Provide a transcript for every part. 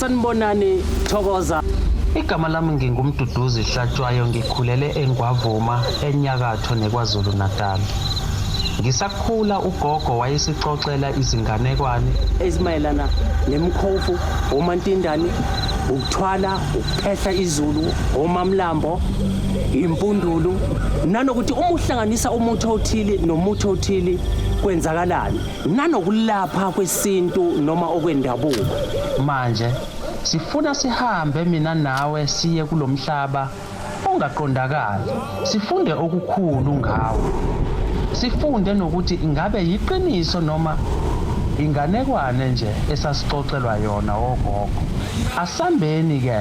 sanibonani thokoza igama lami ngingumduduzi hlatshwayo ngikhulele engwavuma enyakatho nekwazulu natal ngisakhula ugogo wayesixoxela izinganekwane ezimayelana nemkhovu omantindane ukuthwala ukuphehla izulu omamlambo impundulu nanokuthi uma uhlanganisa umuthi othile nomuthi othile kwenzakalani nanokulapha kwesintu noma okwendabuko manje sifuna sihambe mina nawe siye kulomhlaba ongaqondakali sifunde okukhulu ngawo sifunde nokuthi ingabe yiqiniso noma inganekwane nje esasixoxelwa yona ogogo asambeni ke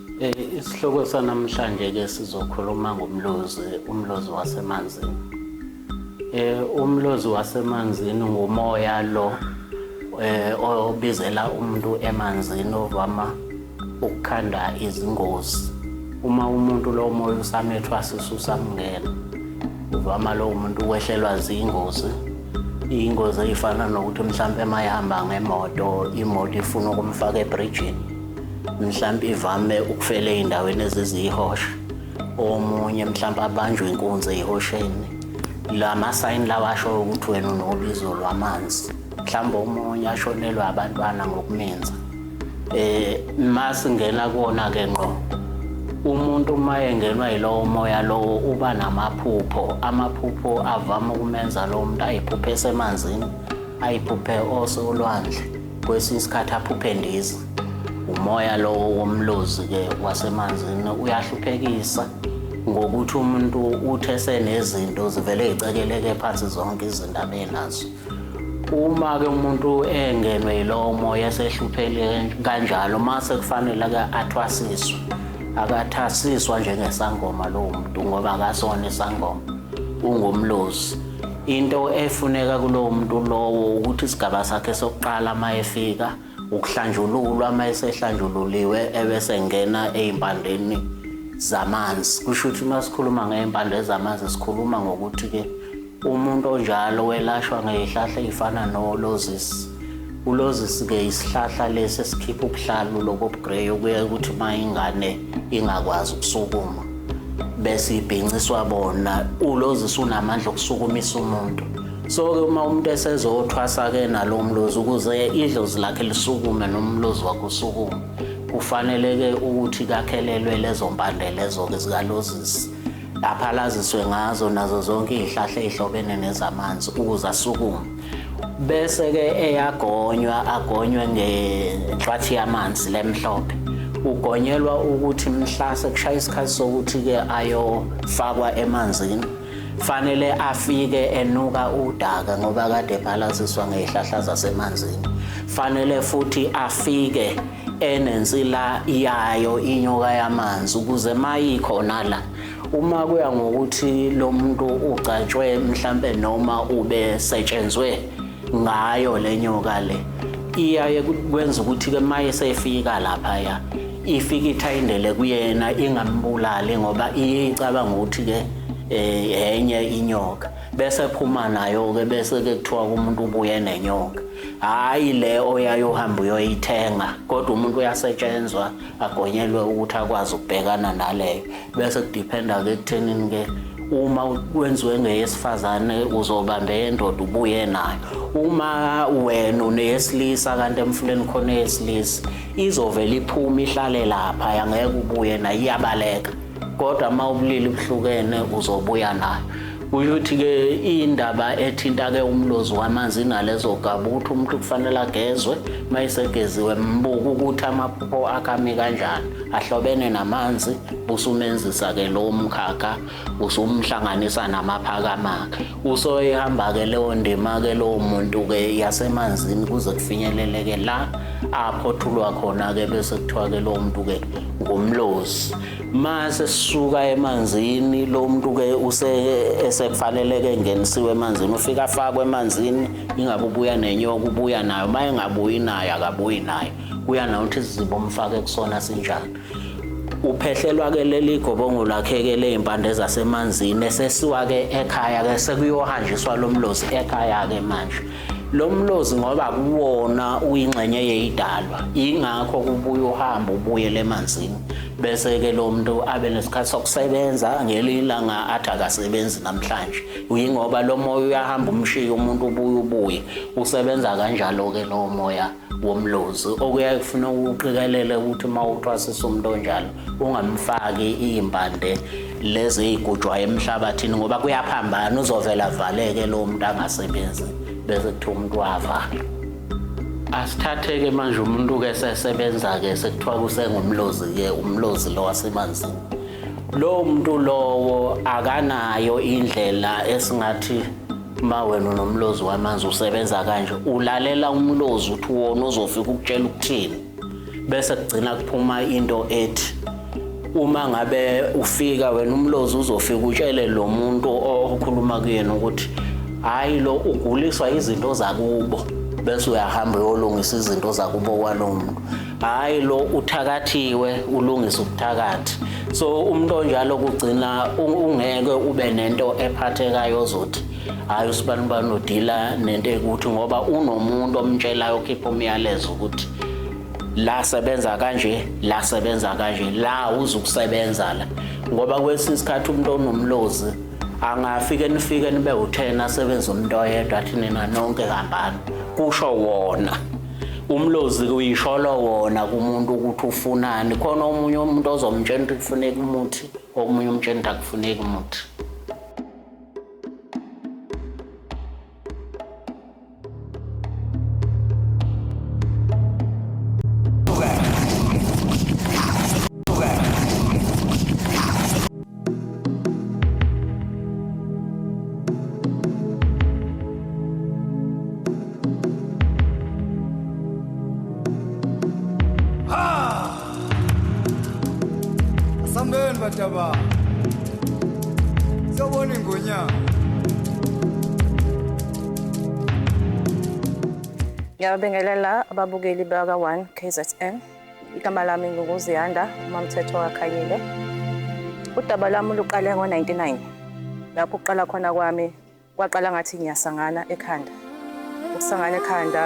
Eh, isihloko sanamhlanje ke sizokhuluma ngomlozi umlozi wasemanzini eh umlozi wasemanzini ngumoya lo eh obizela umuntu emanzini ovama ukukhanda izingozi uma umuntu lo moya usamethwa sisusa mngena uvama lo muntu wehlelwa zingozi ingozi eyifana nokuthi mhlawumbe mayihamba ngemoto imoto ifuna ukumfaka ebridgini mhlawumbe ivame ukufela ezindaweni ezizihosha omunye mhlawumbe abanjwe inkunzi ezihosheni la masayini lawa asho ukuthi wena unobizo lwamanzi mhlawumbe omunye ashonelwe abantwana ngokumenza eh masingena kuona ke ngqo umuntu uma engenwa yilowo moya lowo uba namaphupho amaphupho avama ukumenza lowo muntu ayiphuphe esemanzini ayiphuphe osolwandle Kwesinye isikhathi aphuphe ndiza umoya lowo womlozi-ke wasemanzini uyahluphekisa ngokuthi umuntu uthi esenezinto zivele yicekeleke phansi zonke izinto abenazo uma-ke umuntu engenwe yilowo moya esehluphele kanjalo mase kufanele-ke athwasiswe akathasiswa njengesangoma lowo muntu ngoba akasona isangoma ungumlozi Into efuneka kulowo muntu lowo ukuthi isigaba sakhe sokuqala uma efika ukuhlanjululwa uma esehlanjululiwe ebese ngena ezimpandeni zamanzi kusho ukuthi uma sikhuluma ngey'mpande zamanzi sikhuluma ngokuthi-ke umuntu onjalo welashwa ngezihlahla ey'fana nolozisi Ulozisi-ke isihlahla lesi esikhipha ubuhlalu lobobugrey okuye ukuthi uma ingane ingakwazi ukusukuma bese ibhinciswa bona ulozisi unamandla okusukumisa umuntu so-ke uma umuntu esezothwasa-ke nalo mlozi ukuze idlozi lakhe lisukume nomlozi wakhe usukume kufanele-ke ukuthi kakhelelwe lezo mpande lezo-ke zikalozisi aphalaziswe ngazo nazo zonke izihlahla ezihlobene nezamanzi ukuze asukume bese ke eyagonywa agonywe ngenhlathi yamanzi lemhlophe ugonyelwa ukuthi mhlase kushaya isikhathi sokuthi ke ayofakwa emanzini fanele afike enuka udaka ngoba kade phalaziswa ngezihlahla zasemanzini fanele futhi afike enensila yayo inyoka yamanzi ukuze mayikhona la uma kuya ngokuthi lo muntu ugcatshwe mhlampe noma ube setshenzwe ngayo le nyoka le iyaye kwenza ukuthi ke maye sefika lapha ya ifike ithayindele kuyena ingambulali ngoba iyicabanga ukuthi ke eh enye inyoka bese phuma nayo-ke bese-ke kuthiwa kumuntu ubuye nenyoka hhayi le oyaye uhambe uyoyithenga kodwa umuntu uyasetshenzwa agonyelwe ukuthi akwazi ukubhekana naleyo bese kudiphenda-ke ekuthenini-ke uma wenziwe ngeyesifazane uzobambe yendoda ubuye nayo uma wena uneyesilisa kanti emfuleni khona eyesilisa izovela iphuma ihlale lapha yangeke ubuye nayo iyabaleka kodwa uma ubulili buhlukene uzobuya nayo ukuthi ke indaba ethinta ke umlozi wamanzi inalezo gaba ukuthi umuntu kufanele agezwe mayisegeziwe mbuka ukuthi amaphupho akami kanjani ahlobene namanzi busumenzisa ke lo mkhakha usumhlanganisa namaphakamakhe usoyihamba-ke leyo ndima-ke lowo muntu-ke yasemanzini kuze kufinyeleleke la aphothulwa khona-ke bese kuthiwa-ke lowo muntu-ke ngumlozi ma sesisuka emanzini lowo muntu-ke esekufaneleke engenisiwe emanzini ufika afakwe emanzini ingabe ubuya nenyoka ubuya nayo uma engabuyi nayo akabuyi nayo kuya nayo ukuthi isizibo mfake kusona sinjani uphehlelwa ke leli gobongo lakhe ke lezimpande zasemanzini esesiwa ke ekhaya ke sekuyohanjiswa lomlozi ekhaya ke manje lo mlozi ngoba kuwona uyingxenye yeyidalwa ingakho kubuye uhamba ubuye lemanzini bese ke lo muntu abe nesikhathi sokusebenza ngelilanga athi akasebenzi namhlanje uyingoba lo moya uyahamba umshiya umuntu ubuye ubuye usebenza kanjalo ke lo moya womlozi okuyaye kufuna ukuqikelele ukuthi uma uthwasisa umuntu onjalo ungamfaki iy'mpande lezi ey'gujwayo emhlabathini ngoba kuyaphambana uzovela avaleke lowo muntu angasebenzi bese kuthiwa umuntu wavala asithathe-ke manje umuntu-ke sesebenza-ke sekuthiwa kusengumlozi-ke umlozi lo wasemanzini lowo muntu lowo akanayo indlela esingathi Ma wena unomlozi wamanzi usebenza kanje ulalela umlozi uthi wona uzofika ukutshela ukuthini bese kugcina kuphuma into ethi uma ngabe ufika wena umlozi uzofika utshele lo muntu okhuluma kuyena ukuthi hayi lo uguliswa izinto zakubo bese uyahamba uyolungisa izinto zakubo kwalomuntu hayi lo uthakathiwe ulungisa ubuthakathi so umuntu onjalo kugcina ungeke ube nento ephathekayo ozothi hayi usibani bani udila nento ekuthi ngoba unomuntu omtshelayo okhipha umyalezo ukuthi la sebenza kanje la sebenza kanje la uzukusebenza la ngoba kwesinye isikhathi umuntu onomlozi angafike nifike nibe u-10 asebenza umuntu oyedwa athi nina nonke hambani kusho wona umlozi kuyisholo wona kumuntu ukuthi ufunani khona omunye umuntu ozomtshela ukuthi kufuneka umuthi omunye umtshela ukuthi akufuneki umuthi bataba siyobona ingonyama ngiyababingelela ababukeli baka-1 kzn Igama lami nguZiyanda uMamthetho Wakhanyile. Udaba lwami luqale ngo-99 lapho kuqala khona kwami kwaqala ngathi ngiyasangana ekhanda ukusangana ekhanda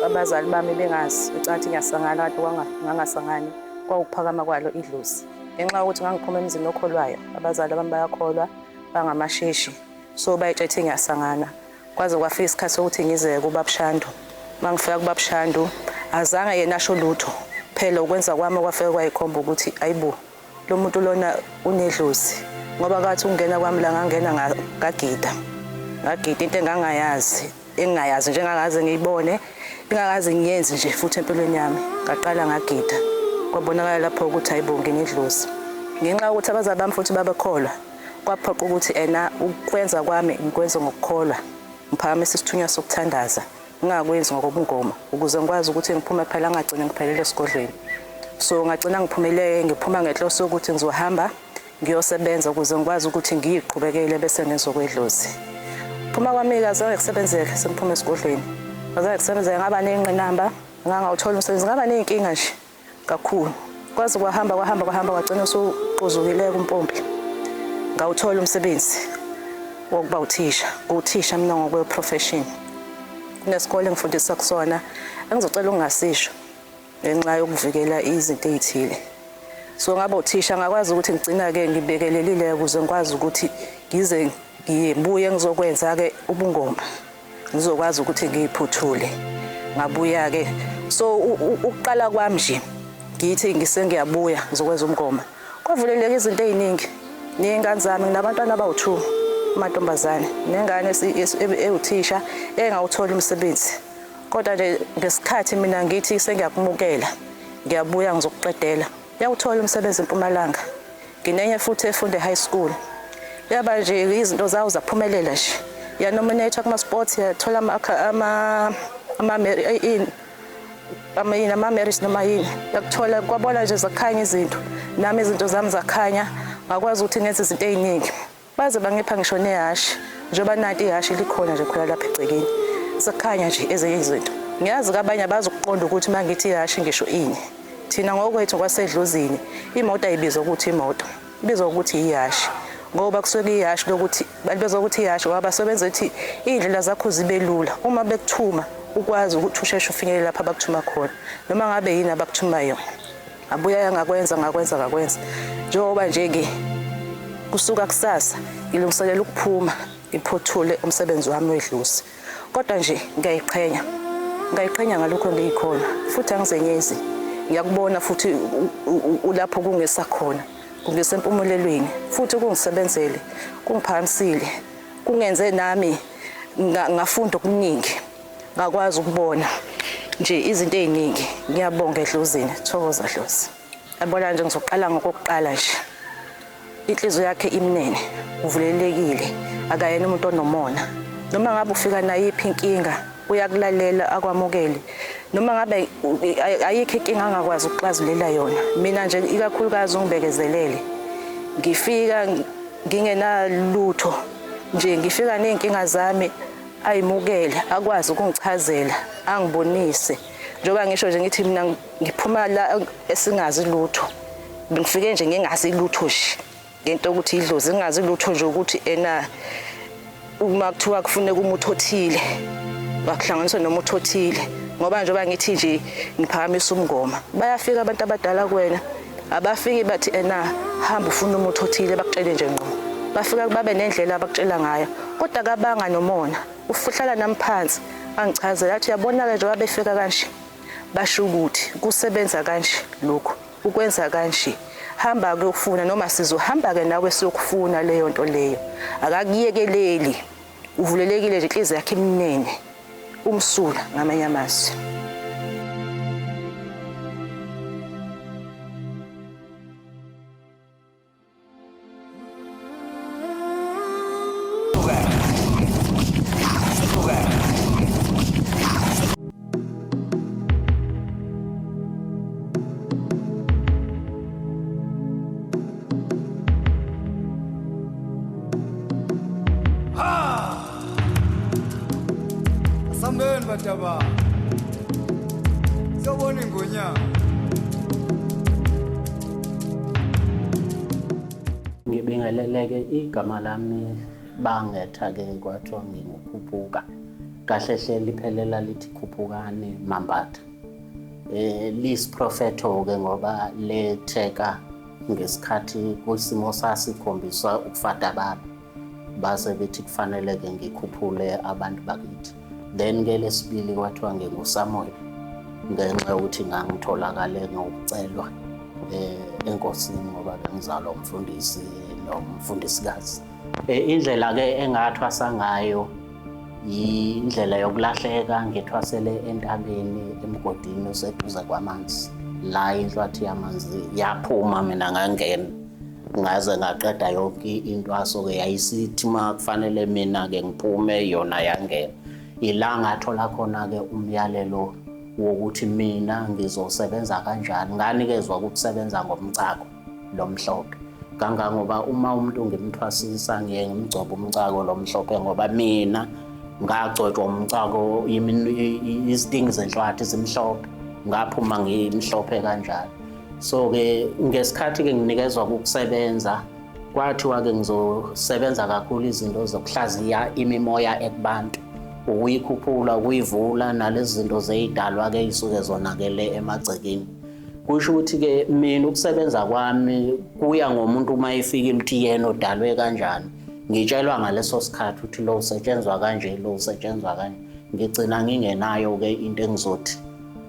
abazali bami bengazi ucathi ngiyasangana kade ngangasangani kwawukuphakama kwalo idlozi ngenxa yokuthi ngangiphuma emzini okholwayo abazali bami bayakholwa bangamashishi so bayetshethe ngiyasangana Kwaze kwafika isikhathi sokuthi ngize kubaba Shandu. Mangifika kubaba Shandu azange yena asho lutho. Phela ukwenza kwami kwafika kwayikhomba ukuthi ayibo lo muntu lona unedlozi ngoba kathi ungena kwami la ngangena ngagida. Ngagida into engangayazi engingayazi njengangaze ngiyibone ingakaze ngiyenze nje futhi empilweni yami ngaqala ngagida kwabonakala lapho ukuthi hayibo nginedlozi ngenxa yokuthi abazali bami futhi babekholwa Kwaphoqa ukuthi ena ukwenza kwami ngikwenze ngokukholwa, ngiphakamisa isithunywa sokuthandaza, ngingakwenzi ngokobungoma ukuze ngikwazi ukuthi ngiphume phela ngagcine ngiphelele esigodlweni. So ngagcina ngiphumelele ngiphuma ngenhloso yokuthi ngizohamba ngiyosebenza ukuze ngikwazi ukuthi ngiyiqhubekele bese ngizokwedlozi. Phuma kwami-ke azange kusebenzele sengiphume esigodlweni. Azange kusebenzele ngaba ney'ngqinamba, ngangawutholi umsebenzi, ngaba ney'nkinga nje. kakhulu kwaze kwahamba kwahamba kwahamba kwagcina usuquzukile kumpompi ngawuthola umsebenzi wokuba uthisha uthisha mina ngokwe profession kunesikole ngifundisa kusona engizocela ungasisho ngenxa yokuvikela izinto ezithile so ngaba uthisha ngakwazi ukuthi ngigcina ke ngibekelelile ukuze ngikwazi ukuthi ngize ngibuye ngizokwenza ke ubungoma ngizokwazi ukuthi ngiyiphuthule ngabuya ke so ukuqala kwami nje ngithi ngisengiyabuya ngizokwenza umngoma kwavuleleka izinto eziningi ney'ngane zami nginabantwana abawu-two amantombazane nengane ewuthisha engawutholi umsebenzi kodwa nje ngesikhathi mina ngithi sengiyakumukela ngiyabuya ngizokuqedela yawuthola umsebenzi empumalanga Nginenye futhi efunde high school. Yaba nje izinto zawo zaphumelela nje. Ya nominate kuma sports yathola ama ama ama in ama yini ama marriage noma yini. Yakuthola kwabona nje zakhanya izinto. Nami izinto zami zakhanya ngakwazi ukuthi ngenze izinto eziningi. Baze bangipha ngisho nehhashi njengoba nanti ihhashi likhona nje khona lapha egcekeni. Sekukhanya nje ezinye izinto. Ngiyazi kabanye abazukuqonda ukuthi uma ngithi ihhashi ngisho ini. Thina ngokwethu kwasedluzini imoto ayibizwa ukuthi imoto, ibizwa ukuthi yihhashi ngoba kusuke kuyihhashi lokuthi balibizwa ukuthi ihhashi ngoba basuke benza ukuthi iy'ndlela zakho zibe lula uma bekuthuma ukwazi ukuthi usheshe ufinyelele lapho abakuthuma khona noma ngabe yini abakuthuma yona. Abuya ngakwenza ngakwenza ngakwenza njengoba nje-ke kusuka kusasa ngilungiselela ukuphuma iphothule umsebenzi wami wedlusi kodwa nje ngiyayiqhenya ngiyayiqhenya ngalokho ngiyikhona futhi angizenyezi ngiyakubona futhi ulapho kungesakhona kungesempumelelweni futhi kungisebenzele kungiphakamisile kungenze nami ngafunda okuningi ngakwazi ukubona nje izinto eziningi ngiyabonga edlozini thokoza dlozi yabona nje ngizoqala ngokokuqala nje inhliziyo yakhe imnene uvulelekile akayena umuntu onomona noma ngabe ufika nayiphi inkinga uyakulalela akwamukele noma ngabe ayikho inkinga angakwazi ukuxazulela yona mina nje ikakhulukazi ungibekezelele ngifika ngingenalutho nje ngifika nezinkinga zami ayimukele akwazi ukungichazela angibonise njengoba ngisho nje ngithi mina ngiphuma la esingazi lutho ngifike nje ngingazi lutho nje ngento ukuthi idlozi ngingazi lutho nje ukuthi ena uma kuthiwa kufuneka umuthi othile wakuhlanganiswa nomuthi othile ngoba njengoba ngithi nje ngiphakamisa umngoma bayafika abantu abadala kuwena abafiki bathi ena hamba ufuna umuthi othile bakutshele nje ngqo bafika kubabe nendlela abakutshela ngayo kodwa kabanga nomona ufuhlala nami phansi angichazela athi uyabona-ke njengoba befika kanje basho ukuthi kusebenza kanje lokhu ukwenza kanje hamba kuyofuna noma sizohamba-ke nawe siyokufuna leyo nto leyo akakuyekeleli Uvulelekile nje inhliziyo yakhe imnene. Umsula ngamanye amazwi. Asambeni bataba. Sawubona ingonyama. ngibengeleleke igama lami bangetha ke kwathiwa ngingukhuphuka kahle hle liphelela lithi khuphukani mambatha eh lisiprofetho ke ngoba letheka ngesikhathi kwisimo sasikhombisa ukufada baba base bethi kufanele ke ngikhuphule abantu bakithi then ke lesibili kwathiwa nginguSamuel ngenxa yokuthi ngangitholakale ngokucelwa eh enkosini ngoba bengizalwa umfundisi nomfundisikazi Eh, indlela ke engathwasa ngayo yindlela yokulahleka ngithwasele entabeni emgodini oseduze kwamanzi la inhlwathi yamanzi yaphuma mina ngangena ngaze ngaqeda yonke intwaso ke yayisithi ma kufanele mina ke ngiphume yona yangena ila ngathola khona ke umyalelo wokuthi mina ngizosebenza kanjani nganikezwa ukusebenza ngomcako lo mhlophe kangangoba uma umuntu ngimthwasisa ngiye ngimgcoba umcako lo mhlophe ngoba mina ngagcotshwa umcako izitingi zenhlwathi zimhlophe ngaphuma ngimhlophe kanjalo so-ke ngesikhathi-ke nginikezwa kukusebenza kwathiwa-ke ngizosebenza kakhulu izinto zokuhlaziya imimoya ekubantu ukuyikhuphula ukuyivula nalezi zinto zeyidalwa-ke isuke zonakele emagcekeni kusho ukuthi-ke mina ukusebenza kwami kuya ngomuntu uma efikile ukuthi yena odalwe kanjani ngitshelwa ngaleso sikhathi ukuthi lo usetshenzwa kanje lo usetshenzwa kanje ngigcina ngingenayo-ke into engizothi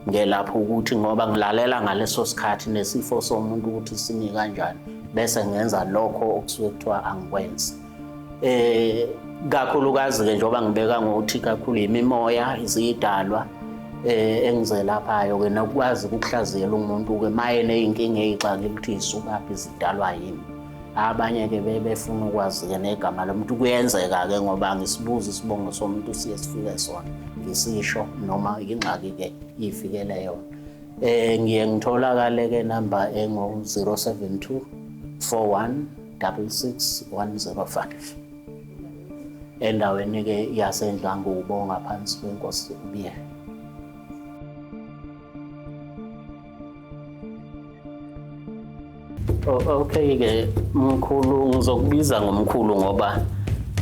ngelapha ukuthi ngoba ngilalela ngaleso sikhathi nesifo somuntu ukuthi simi kanjani bese ngenza lokho okusuke kuthiwa angikwenzi eh kakhulukazi ke njengoba ngibeka ngokuthi kakhulu imimoya izidalwa eh engizelaphayo ke nokwazi ukuhlaziyela umuntu ke maye nezinkinga ezixaka ukuthi isukaphi izidalwa yini abanye ke bebefuna ukwazi ke negama lomuntu kuyenzeka ke ngoba ngisibuza isibongo somuntu siye sifike sona ngisisho noma ingxaki ke ifikele yona eh ngiye ngitholakale ke number engo 072 41 66105 endaweni-ke yasendlangubo ngaphansi kwenkosi ubiyela okay-ke mkhulu ngizokubiza ngomkhulu ngoba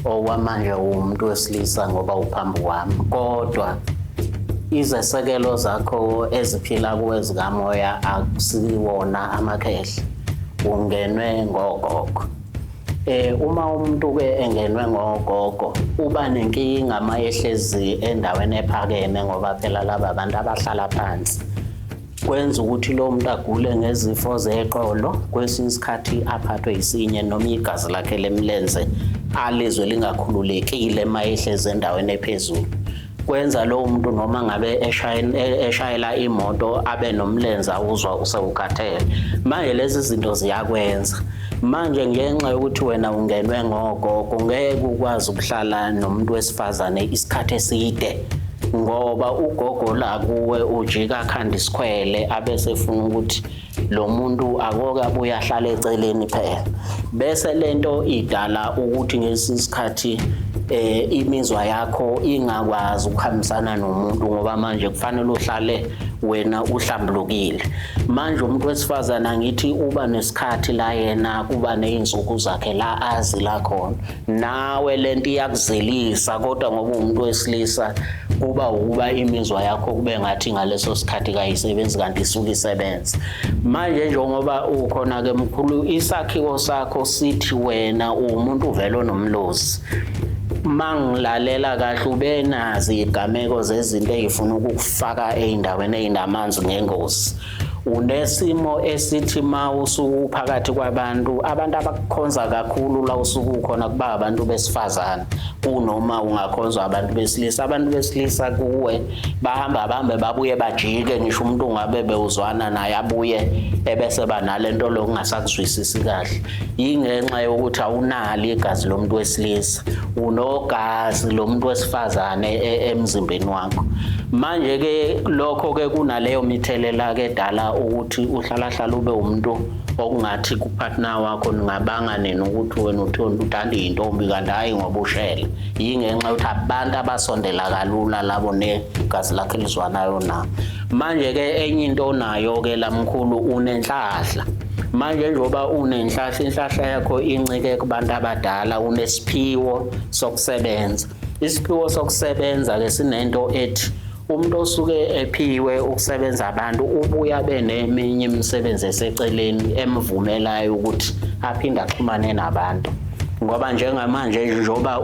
okwamanje uwumuntu wesilisa ngoba uphambi kwami kodwa izesekelo zakho eziphila kuwe zikamoya akusiwona amakhehla ungenwe ngogogo eh uma umuntu ke engenwe ngogogo uba nenkinga uma ehlezi endaweni ephakeme ngoba phela laba bantu abahlala phansi kwenza ukuthi lo muntu agule ngezifo zeqolo kwesinye isikhathi aphathwe yisinye noma igazi lakhe lemlenze alizwe lingakhululekile uma ehlezi endaweni ephezulu kwenza lowo muntu noma ngabe eshayela imoto abe nomlenze awuzwa usewukhathele manje lezi zinto ziyakwenza manje ngenxa yokuthi wena ungenwe ngogogo ngeke ukwazi ukuhlala nomuntu wesifazane isikhathi eside ngoba ugogo la kuwe ujika khanda isikhwele abese funa ukuthi lo muntu akoke abuye ahlale eceleni phela bese lento idala ukuthi ngesinye isikhathi eh imizwa yakho ingakwazi ukuhambisana nomuntu ngoba manje kufanele uhlale wena uhlambulukile manje umuntu wesifazana ngithi uba nesikhathi la yena kuba nezinsuku zakhe la azi la khona nawe lento iyakuzelisa kodwa ngoba umuntu wesilisa kuba ukuba imizwa yakho kube ngathi ngaleso sikhathi kayisebenzi kanti isuke isebenza manje njengoba ukhona ke mkhulu isakhiwo sakho sithi wena umuntu uvela onomlozi mangilalela kahle ubenazi igameko zezinto ezifuna ukukufaka eindaweni einamanzi ngengozi unesimo esithi ma usuku phakathi kwabantu abantu abakukhonza kakhulu la usuku khona kuba abantu besifazane kunoma ungakhonzwa abantu besilisa abantu besilisa kuwe bahamba bahambe babuye bajike ngisho umuntu ngabe bewuzwana naye abuye ebese banalento lokungasakuzwisisi kahle yingenxa yokuthi awunalo igazi lomuntu wesilisa unogazi lomuntu wesifazane e, emzimbeni wakho manje ke lokho ke kunaleyo mithelela ke dala ukuthi uhlalahlala ube umuntu okungathi kupartner wakho ningabanga nini ukuthi wena uthi uthanda intombi kanti hayi ngoba ushele yingenxa yokuthi abantu abasondela kalula labo negazi lakhe lizwanayo na manje ke enye into onayo ke lamkhulu unenhlahla manje njengoba unenhlahla inhlahla yakho incike kubantu abadala unesiphiwo sokusebenza isiphiwo sokusebenza ke sinento ethi umuntu osuke ephiwe ukusebenza abantu ubuya beneminye imisebenzi eseceleni emvumelayo ukuthi aphinde axhumane nabantu ngoba njengamanje njengoba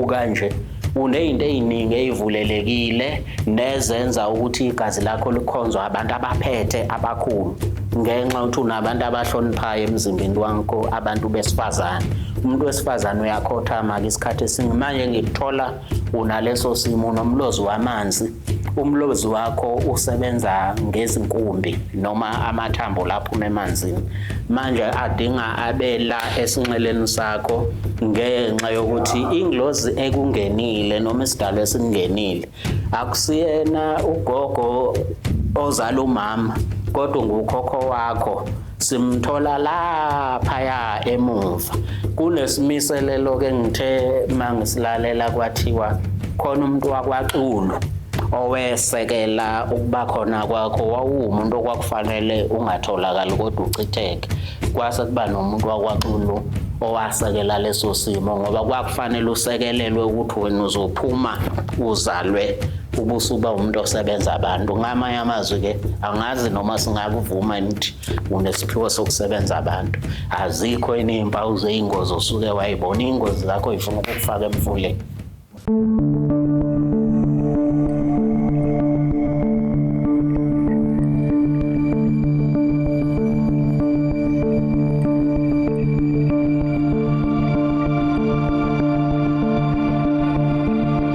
ukanje unezinto eziningi ezivulelekile nezenza ukuthi igazi lakho likhonzwe abantu abaphethe abakhulu ngenxa ukuthi unabantu abahloniphayo emzimbeni wakho abantu besifazane umuntu wesifazane uyakhothama-ke isikhathi esingi manje ngikuthola unaleso simo nomlozi wamanzi umlozi wakho usebenza ngezinkumbi noma amathambo laphuma emanzini manje adinga abela esinxeleni sakho ngenxa yokuthi ingilozi ekungenile noma isidalwa esingenile akusiyena ugogo ozala umama kodwa ngukhokho wakho simthola laphaya emuva kunesimiselelo ke ngithe mangisilalela kwathiwa khona umuntu wakwaXulu owesekela ukuba khona kwakho wawumuntu okwakufanele ungatholakali kodwa uchitheke kwase kuba nomuntu wakwaXulu owasekela leso simo ngoba kwakufanele usekelelwe ukuthi wena uzophuma uzalwe ubusuba umuntu osebenza abantu ngamanye amazwi ke angazi noma singakuvuma ukuthi unesiphiwo sokusebenza abantu azikho ineempawu zeyingozi osuke wayibona iy'ngozi zakho ifuna ukukufaka emfuleni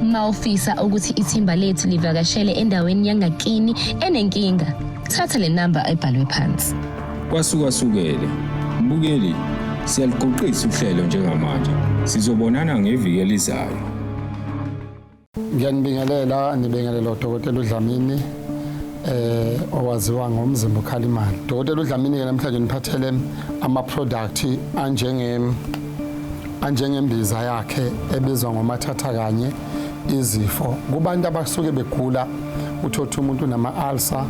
uma ufisa ukuthi ithimba lethu livakashele endaweni yangakini enenkinga thatha le namba ebhalwe phansi kwasukwasukele mbukeli siyaluguqisa uhlelo njengamanje sizobonana ngeviki elizayo ngiyanibingelela nibingelela udokotela udlamini eh owaziwa ngomzimba ukhalimali dokotela udlamini ke namhlanje niphathele ama product anjenge anjengembiza yakhe ebizwa ngomathatha kanye izifo kubantu abasuke begula uthotha umuntu nama-alsa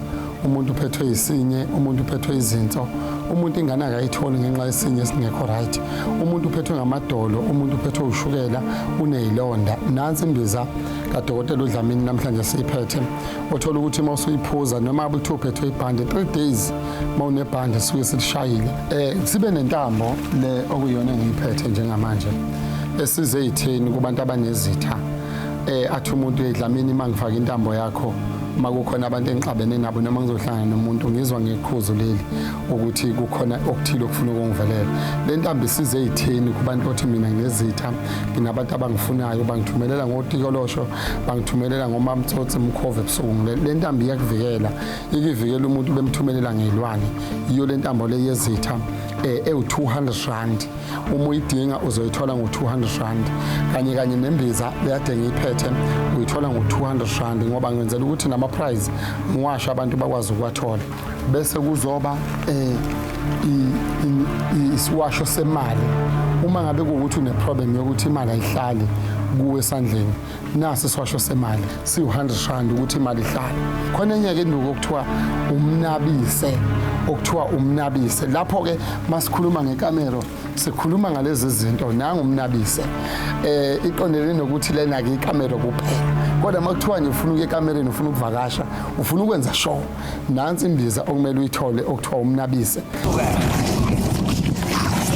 umuntu uphethwe yisinye umuntu uphethwe izinso umuntu ingane akayitholi ngenxa yesinye esingekho right umuntu uphethwe ngamadolo umuntu uphethwe ushukela uneyilonda nansi imbiza kadokotela udlamini namhlanje siyiphethe othola ukuthi uma usuyiphuza noma abuthi uphethwe ibhande 3 days uma unebhande sisuke silishayile um sibe nentambo le okuyiyona engiyiphethe njengamanje esize ey'theni kubantu abanezitha um athi umuntu uyedlamini uma ngifake intambo yakho uma kukhona abantu engixabene nabo noma ngizohlangana nomuntu ngizwa ngekhuzu leli ukuthi kukhona okuthile okufuna ukungivelela le ntambo isize ey'theni kubantu othi mina ngezitha nginabantu abangifunayo bangithumelela ngotikolosho bangithumelela ngomamtsotsi mkhove ebusuku le ntambo iyakuvikela ikivikela umuntu bemthumelela ngeyilwane yiyo le ntambo le yezitha eh, ewu-200 rand uma uyidinga uzoyithola ngo-200 rand kanye kanye nembiza leyade ngiyiphethe uyithola ngo-200 rand ngoba ngenzela ukuthi nama-prize ngiwasho abantu bakwazi ukuwathola bese kuzoba eh isiwasho semali uma ngabe kuwukuthi une-problem yokuthi imali ayihlali kuwe esandleni nasi siwasho semali siwu-100 rand ukuthi imali ihlala khona enye-ke induku okuthiwa umnabise okuthiwa umnabise lapho-ke masikhuluma ngekamero sikhuluma ngalezi zinto nangumnabise eh iqondele nokuthi lena ke ikamera kuphela kodwa makuthiwa nje ufuna ukuya ekamereni ufuna ukuvakasha ufuna ukwenza show nansi imbiza okumele uyithole okuthiwa umnabise